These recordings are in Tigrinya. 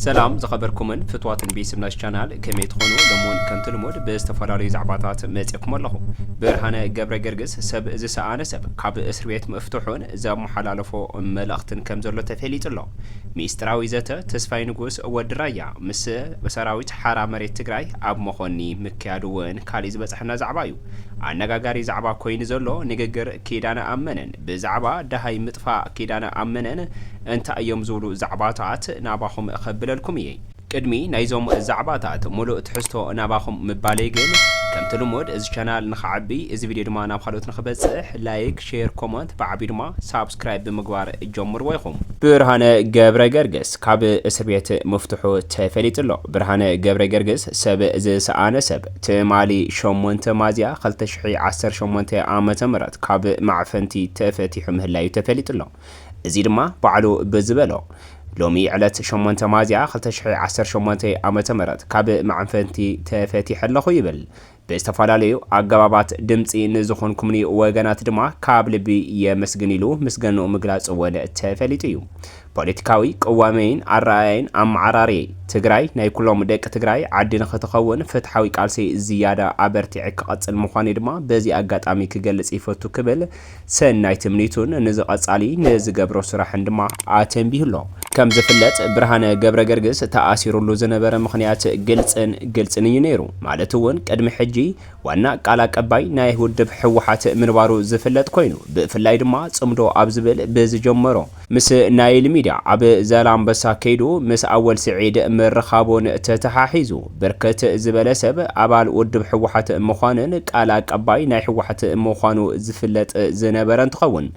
ሰላም ዝኸበርኩምን ፍትዋትን ቤስብ ናሽ ቻናል ከመይ ትኾኑ ሎምውን ከምቲ ልሙድ ብዝተፈላለዩ ዛዕባታት መጽኩም ኣለኹ ብርሃነ ገብረ ገርግስ ሰብ ዝሰኣነ ሰብ ካብ እስር ቤት ምፍትሑን ዘመሓላለፎ መልእኽትን ከም ዘሎ ተፈሊጡ ኣሎ ሚስጥራዊ ዘተ ተስፋይ ንጉስ ወዲ ራያ ምስ ሰራዊት ሓራ መሬት ትግራይ ኣብ መኾኒ ምክያዱ እውን ካሊእ ዝበጽሐና ዛዕባ እዩ ኣነጋጋሪ ዛዕባ ኮይኑ ዘሎ ንግግር ኪዳነ ኣመነን ብዛዕባ ደሃይ ምጥፋእ ኪዳነ ኣመነን እንታይ እዮም ዝብሉ ዛዕባታት ናባኹም ከብለልኩም እየ። ቅድሚ ናይዞም ዛዕባታት ሙሉእ ትሕዝቶ ናባኹም ምባለይ ግን ከምቲ ልሙድ እዚ ቻናል ንኽዓቢ እዚ ቪድዮ ድማ ናብ ኻልኦት ንኽበፅሕ ላይክ፣ ሼር፣ ኮመንት ብዓብዩ ድማ ሳብስክራይብ ብምግባር ጀምርዎ ኢኹም። ብርሃነ ገብረገርግስ ካብ እስርቤት ምፍትሑ ተፈሊጡ ኣሎ። ብርሃነ ገብረገርግስ ሰብ ዝሰኣነ ሰብ! ትማሊ ሸሞንተ ማዚያ ክልተ ሽሕይ ዓሰርተ ሸሞንተ ዓመተ ምህረት ካብ ማዕፈንቲ ተፈቲሑ ምህላዩ ተፈሊጡ'ሎ። እዚ ድማ ባዕሉ ብዝበሎ ሎሚ ዕለት ሸሞንተ ማዚያ ክልተ ሽሕይ ዓሰርተ ሸሞንተ ዓመተ ምህረት ካብ ማዕፈንቲ ተፈቲሐ ኣለኹ ይብል። ብዝተፈላለዩ ኣገባባት ድምጺ ንዝኾንኩምኒ ወገናት ድማ ካብ ልቢ የመስግን ኢሉ ምስገንኡ ምግላጹ'ውን ተፈሊጡ እዩ። ፖለቲካዊ ቅዋመይን ኣረኣእያይን ኣመዓራርየይ፣ ትግራይ ናይ ኩሎም ደቂ ትግራይ ዓዲ ንኽትኸውን ፍትሓዊ ቃልሰይ ዝያዳ ኣበርቲዐ ክቐፅል ምዃነይ ድማ በዚ ኣጋጣሚ ክገልፅ ይፈቱ ክብል ሰናይ ትምኒቱን ንዝቐፃሊ ንዝገብሮ ስራሕን ድማ ኣተንቢሁ'ሎ። ከምዝፍለጥ ብርሃነ ገብረገርግስ ተኣሲሩሉ ዝነበረ ምኽንያት ግልፅን ግልፅን እዩ ነይሩ። ማለት እውን ቅድሚ ሕጂ ዋና ቃል ኣቀባይ ናይ ውድብ ህወሓት ምንባሩ ዝፍለጥ ኮይኑ፣ ብፍላይ ድማ ፅምዶ ኣብ ዝብል ብዝጀመሮ፣ ምስ ናይል ሚድያ ኣብ ዛላምበሳ ከይዱ ምስ ኣወል ስዒድ ምርኻቡን ተተሓሒዙ ብርክት ዝበለ ሰብ ኣባል ውድብ ህወሓት ምዃኑን ቃል ኣቀባይ ናይ ህወሓት ምዃኑ ዝፍለጥ ዝነበረ እንትኸውን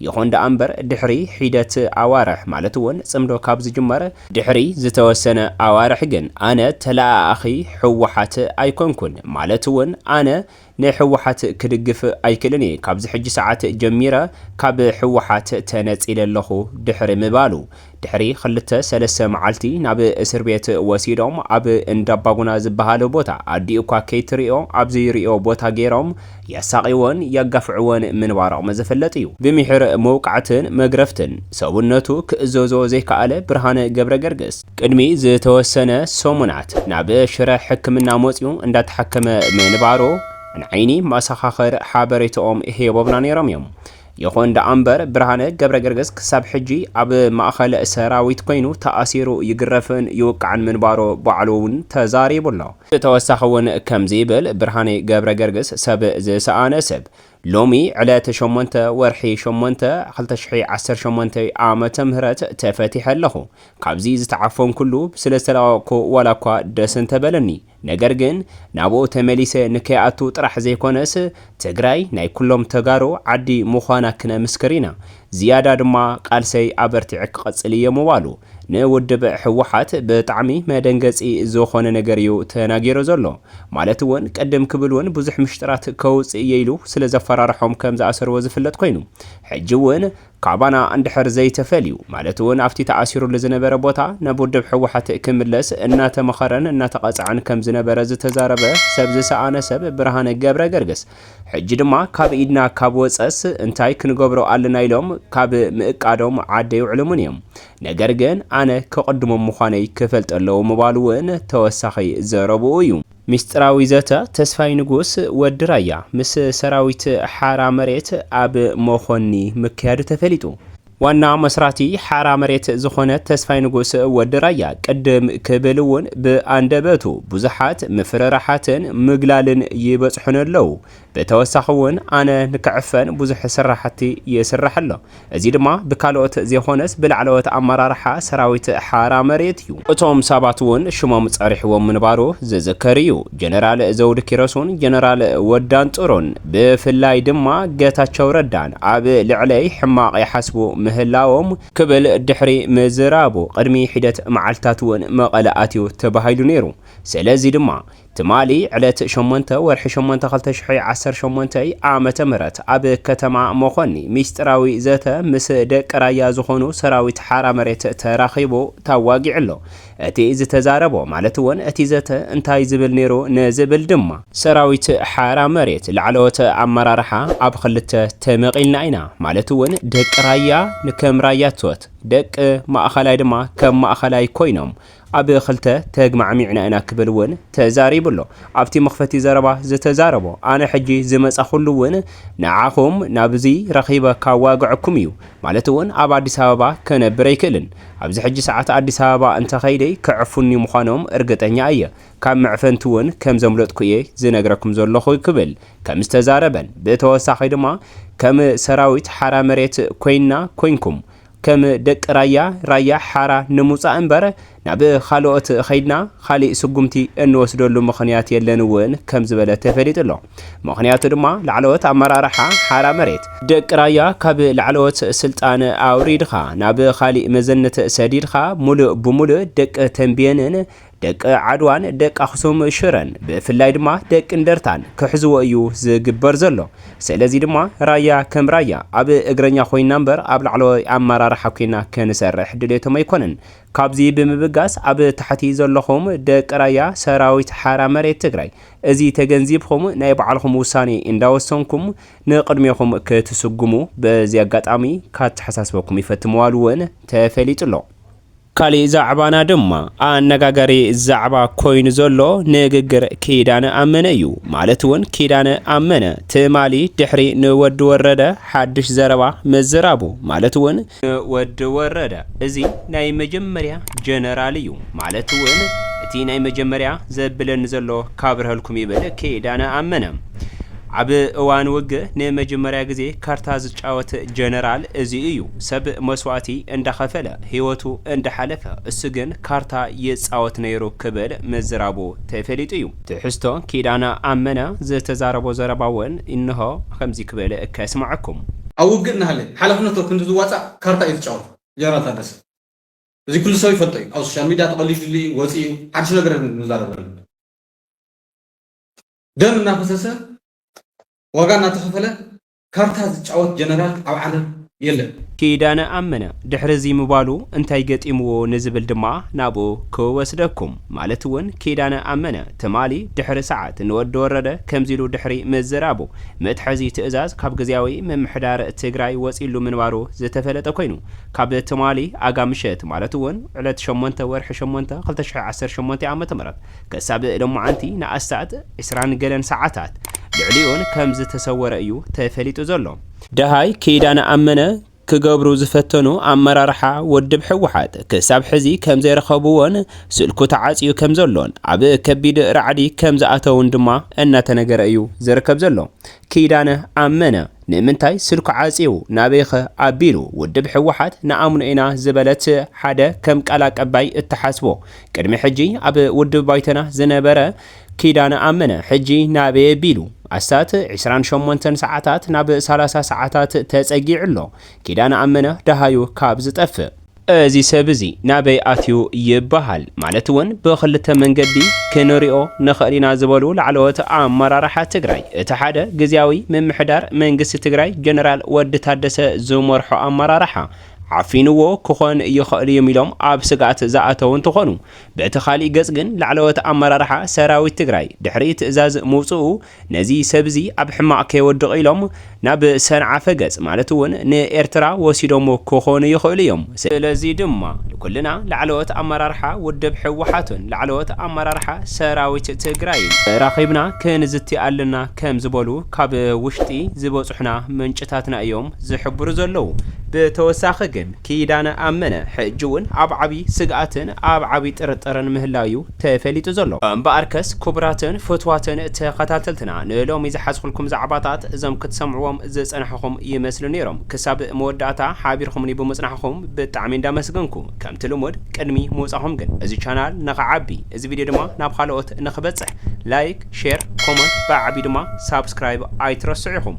ይኹን ደኣ እምበር ድሕሪ ሒደት ኣዋርሕ ማለት እውን ፅምዶ ካብ ዝጅመር ድሕሪ ዝተወሰነ ኣዋርሕ ግን ኣነ ተለኣኣኺ ህወሓት ኣይኮንኩን ማለት እውን ኣነ ንሕወሓት ክድግፍ ኣይክልን እየ ካብዚ ሕጂ ሰዓት ጀሚረ ካብ ሕወሓት ተነጺለ ኣለኹ ድሕሪ ምባሉ ድሕሪ ክልተ ሰለስተ መዓልቲ ናብ እስርቤት ወሲዶም ኣብ እንዳባጉና ዝብሃል ቦታ ኣዲኡ እኳ ከይትሪኦ ኣብ ዘይሪኦ ቦታ ገይሮም የሳቅይዎን የጋፍዕዎን ምንባሮም ዝፍለጥ እዩ። ብምሒር መውቃዕትን መግረፍትን ሰውነቱ ክእዘዞ ዘይከኣለ ብርሃነ ገብረገርግስ፣ ቅድሚ ዝተወሰነ ሰሙናት ናብ ሽረ ሕክምና መፂኡ እንዳተሓከመ ምንባሩ ንዓይኒ መሰኻኽር ሓበሬትኦም ሂቦምና ነይሮም እዮም። ይኹን ደኣምበር ብርሃነ ገብረገርግስ ክሳብ ሕጂ ኣብ ማእኸል ሰራዊት ኮይኑ ተኣሲሩ ይግረፍን ይውቃዕን ምንባሩ ባዕሉ እውን ተዛሪቡ ኣሎ። ብተወሳኺ እውን ከምዚ ይብል፣ ብርሃኔ ገብረገርግስ ሰብ ዝሰኣነ ሰብ፣ ሎሚ ዕለተ ሸሞንተ ወርሒ ሸሞንተ ክልተ ሽሕይ ዓሰርተ ሸሞንተ ዓመተ ምህረት ተፈቲሐ ኣለኹ ካብዚ ዝተዓፈንኩሉ ስለ ዝተለቀቅኩ ዋላ እኳ ደስ እንተበለኒ ነገር ግን ናብኡ ተመሊሰ ንከይኣቱ ጥራሕ ዘይኮነስ ትግራይ ናይ ኩሎም ተጋሩ ዓዲ ምዃና ክነምስክር ኢና ዝያዳ ድማ ቃልሰይ ኣበርቲዐ ክቐፅል እየ ምባሉ ንውድብ ህወሓት ብጣዕሚ መደንገፂ ዝኾነ ነገር እዩ ተናጊሩ ዘሎ። ማለት እውን ቅድም ክብል እውን ብዙሕ ምሽጥራት ከውፅእ እየ ኢሉ ስለዘፈራረሖም ከምዝኣሰርዎ ዝፍለጥ ኮይኑ ሕጂ እውን ካባና እንድሕር ዘይተፈልዩ ማለት እውን ኣብቲ ተኣሲሩሉ ዝነበረ ቦታ ናብ ውድብ ህወሓት ክምለስ እናተመኸረን እናተቐፀዐን ከምዝነበረ ዝተዛረበ ሰብ ዝሰኣነ ሰብ ብርሃነ ገብረገርግስ ሕጂ ድማ ካብ ኢድና ካብ ወጸስ እንታይ ክንገብሮ ኣለና ኢሎም ካብ ምእቃዶም ዓዲ ኣይውዕሉምን እዮም። ነገር ግን ኣነ ከቕድሞም ምዃነይ ክፈልጡ ኣለዎ ምባሉ ውን ተወሳኺ ዘረብኡ እዩ። ሚስጢራዊ ዘተ ተስፋይ ንጉስ፣ ወዲ ራያ፣ ምስ ሰራዊት ሓራ መሬት ኣብ መኾኒ ምክያዱ ተፈሊጡ። ዋና መስራቲ ሓራ መሬት ዝኾነ ተስፋይ ንጉስ ወዲ ራያ ቅድም ክብል እውን ብኣንደበቱ ብዙሓት ምፍርራሓትን ምግላልን ይበፅሑኒ ኣለው። ብተወሳኺ እውን ኣነ ንክዕፈን ብዙሕ ስራሕቲ ይስራሕ ኣሎ። እዚ ድማ ብካልኦት ዘይኾነስ ብላዕለዎት ኣመራርሓ ሰራዊት ሓራ መሬት እዩ። እቶም ሰባት እውን ሽሞም ፀሪሑዎም ምንባሩ ዝዝከር እዩ። ጀነራል ዘውድ ኪሮሱን ጀነራል ወድ ኣንጽሩን ብፍላይ ድማ ገታቸው ረዳን ኣብ ልዕለይ ሕማቕ ይሓስቡ ምህላዎም ክብል ድሕሪ ምዝራቡ ቅድሚ ሒደት መዓልትታት'ውን መቐለ ኣትዩ ተባሂሉ ነይሩ። ስለዚ ድማ ትማሊ ዕለት ሸሞንተ ወርሒ ሸሞንተ ክልተ ሽሕይ ዓሰርተ ሸሞንተ ዓመተ ምህረት ኣብ ከተማ መኾኒ ሚስጢራዊ ዘተ ምስ ደቂ ራያ ዝኾኑ ሰራዊት ሓራ መሬት ተራኺቡ ታዋጊዑ'ሎ። እቲ ዝተዛረቦ ማለት ወን እቲ ዘተ እንታይ ዝብል ነይሩ ንዝብል ድማ። ሰራዊት ሓራ መሬት ላዕለዎት ኣመራርሓ ኣብ ኽልተ ተመቂልና ኢና ማለት ውን ደቂ ራያ ከም ራያቶት ደቂ ማእኸላይ ድማ ከም ማእኸላይ ኮይኖም ኣብ ኽልተ ተግማዕሚዕና ኢና ክብል ውን ተዛሪቡ ኣሎ ኣብቲ መኽፈቲ ዘረባ ዝተዛረቦ ኣነ ሕጂ ዝመፃኹሉ ውን ንዓኹም ናብዚ ረኺበ ካዋግዐኩም እዩ ማለት እውን ኣብ ኣዲስ ኣበባ ከነብር ኣይክእልን። ኣብዚ ሕጂ ሰዓት ኣዲስ ኣበባ እንተ ከይደ ከዕፉኒ ምዃኖም እርግጠኛ እየ። ካብ መዕፈንቲ እውን ከም ዘምለጥኩ እየ ዝነግረኩም ዘለኹ ክብል ከም ዝተዛረበን ብተወሳኺ ድማ ከም ሰራዊት ሓራ መሬት ኮይንና ኮይንኩም ከም ደቂ ራያ ራያ ሓራ ንምውጻእ እምበር ናብ ኻልኦት ኸይድና ኻሊእ ስጉምቲ እንወስደሉ ምኽንያት የለን እውን ከም ዝበለ ተፈሊጡ ኣሎ። ምኽንያቱ ድማ ላዕለዎት ኣመራርሓ ሓራ መሬት፣ ደቂ ራያ ካብ ላዕለዎት ስልጣን ኣውሪድኻ ናብ ኻሊእ መዘነት ሰዲድኻ ሙሉእ ብሙሉእ ደቂ ተምቤንን ደቂ ዓድዋን ደቂ ኣኽሱም ሽረን ብፍላይ ድማ ደቂ እንደርታን ክሕዝዎ እዩ ዝግበር ዘሎ። ሰለዚ ድማ ራያ ከም ራያ ኣብ እግረኛ ኮይና እምበር ኣብ ላዕለዋይ ኣመራርሓ ኮይና ክንሰርሕ ድሌቶም ኣይኮነን። ካብዚ ብምብጋስ ኣብ ታሕቲ ዘለኹም ደቂ ራያ ሰራዊት ሓራ መሬት ትግራይ እዚ ተገንዚብኹም ናይ ባዕልኹም ውሳኔ እንዳወሰንኩም ንቅድሜኹም ክትስጉሙ በዚ ኣጋጣሚ ካተሓሳስበኩም ይፈቲ ምባሉ እውን ተፈሊጡ ኣሎ። ካሊእ ዛዕባና ድማ ኣነጋጋሪ ዛዕባ ኮይኑ ዘሎ ንግግር ኪዳነ ኣመነ እዩ። ማለት እውን ኪዳነ ኣመነ ትማሊ ድሕሪ ንወዲ ወረደ ሓድሽ ዘረባ ምዝራቡ ማለት እውን ን ወዲ ወረደ እዚ ናይ መጀመርያ ጀነራል እዩ ማለት ውን እቲ ናይ መጀመርያ ዘብለኒ ዘሎ ካብርሀልኩም ይብል ኪዳነ ኣመነ ኣብ እዋን ውግእ ንመጀመርያ ግዜ ካርታ ዝጫወት ጀነራል እዚ እዩ ሰብ መስዋእቲ እንዳኸፈለ ሂወቱ እንዳሓለፈ እሱ ግን ካርታ ይፃወት ነይሩ ክብል ምዝራቡ ተፈሊጡ እዩ። ትሕዝቶ ኪዳነ ኣመነ ዝተዛረቦ ዘረባ ውን እንሆ ከምዚ ክብል ከስመዐኩም። ኣብ ውግእ እናሃለየ ሓላፍነቶ ክንዲ ዝዋፃእ ካርታ እዩ ዝጫወት ጀነራል ታደሰ። እዚ ኩሉ ሰብ ይፈልጦ እዩ ኣብ ሶሻል ሚድያ ተቐሊድሉ እዩ ወፂኡ ሓዱሽ ነገር የለን ክንዛረብ ዘለና። ደም እናፈሰሰ ዋጋ እናተኸፈለ ካርታ ዝጫወት ጀነራል ኣብ ዓለም የለን። ኪዳነ ኣመነ ድሕሪ እዚ ምባሉ እንታይ ገጢምዎ ንዝብል ድማ ናብኡ ክወስደኩም። ማለት እውን ኪዳነ ኣመነ ትማሊ ድሕሪ ሰዓት ንወዲ ወረደ ከምዚ ኢሉ ድሕሪ ምዝራቡ መትሐዚ ትእዛዝ ካብ ግዝያዊ ምምሕዳር ትግራይ ወፂእሉ ምንባሩ ዝተፈለጠ ኮይኑ ካብ ትማሊ ኣጋ ምሸት ማለት እውን ዕለት ሸሞንተ ወርሒ ሸሞንተ ክልተ ሽሕ ዓሰርተ ሸሞንተ ዓመተ ምህረት ክሳብ ሎማዓንቲ ንኣስታት ዕስራን ገለን ሰዓታት ልዕሊኡን ከም ዝተሰወረ እዩ ተፈሊጡ ዘሎ። ደሃይ ኪዳነ ኣመነ ክገብሩ ዝፈተኑ ኣመራርሓ ወድብ ህወሓት ክሳብ ሕዚ ከም ዘይረኸብዎን ስልኩ ተዓፅዩ ከም ዘሎን ኣብ ከቢድ ራዕዲ ከም ዝኣተዉን ድማ እናተነገረ እዩ ዝርከብ ዘሎ። ኪዳነ ኣመነ ንምንታይ ስልኩ ዓፅዩ ናበይኸ ኣቢሉ ውድብ ህወሓት ንኣምኖ ኢና ዝበለት ሓደ ከም ቃል ኣቀባይ እትሓስቦ ቅድሚ ሕጂ ኣብ ውድብ ባይቶና ዝነበረ ኪዳነ ኣመነ ሕጂ ናበየ ቢሉ ኣስታት ዕስራን ሸሞንተን ሰዓታት ናብ ሰላሳ ሰዓታት ተጸጊዑ ኣሎ። ኪዳነ ኣመነ ደሃዩ ካብ ዝጠፍእ። እዚ ሰብ እዚ ናበይ ኣትዩ ይበሃል። ማለት እውን ብኽልተ መንገዲ ክንሪኦ ንኽእል ኢና ዝበሉ ላዕለዎት ኣመራርሓ ትግራይ፣ እቲ ሓደ ግዝያዊ ምምሕዳር መንግስቲ ትግራይ ጀነራል ወዲ ታደሰ ዝመርሖ ኣመራርሓ፣ ዓፊንዎ ክኾን ይኸእል'ዩም ኢሎም ኣብ ስግኣት ዝኣተው እንትኾኑ፣ በቲ ካሊእ ገፅ ግን ላዕለዎት ኣመራርሓ ሰራዊት ትግራይ ድሕሪ ትእዛዝ ምውፅኡ ነዚ ሰብ'ዚ ኣብ ሕማቕ ከይወድቕ ኢሎም ናብ ሰንዓፈ ገፅ ማለት'ውን ንኤርትራ ወሲዶምዎ ክኾኑ ይኸእሉ'ዩም። ስለዚ ድማ ንኩልና ላዕለዎት ኣመራርሓ ውድብ ህወሓትን ላዕለዎት ኣመራርሓ ሰራዊት ትግራይን ተራኺብና ክንዝቲ ኣለና ከምዝበሉ ካብ ውሽጢ ዝበፁሑና ምንጭታትና እዮም። ዝሕብሩ ዘለዉ። ብተወሳኺ ግን ኪዳነ ኣመነ ሕጂ እውን ኣብ ዓብዪ ስግኣትን ኣብ ዓብዪ ጥርጥርን ምህላዉ እዩ ተፈሊጡ ዘሎ። እምበኣርከስ ክቡራትን ፍትዋትን ተኸታተልትና ንሎሚ ዝሓዝኩልኩም ዛዕባታት እዞም ክትሰምዕዎም ዝጸናሕኹም ይመስሉ ነይሮም። ክሳብ መወዳእታ ሓቢርኩምኒ ብምጽናሕኩም ብጣዕሚ እንዳመስገንኩ ከምቲ ልሙድ ቅድሚ ምውጻኹም ግን እዚ ቻናል ንኽዓቢ እዚ ቪድዮ ድማ ናብ ኻልኦት ንኽበጽሕ ላይክ፣ ሼር፣ ኮሞንት ብዓብዩ ድማ ሳብስክራይብ ኣይትረስዑ ኢኹም።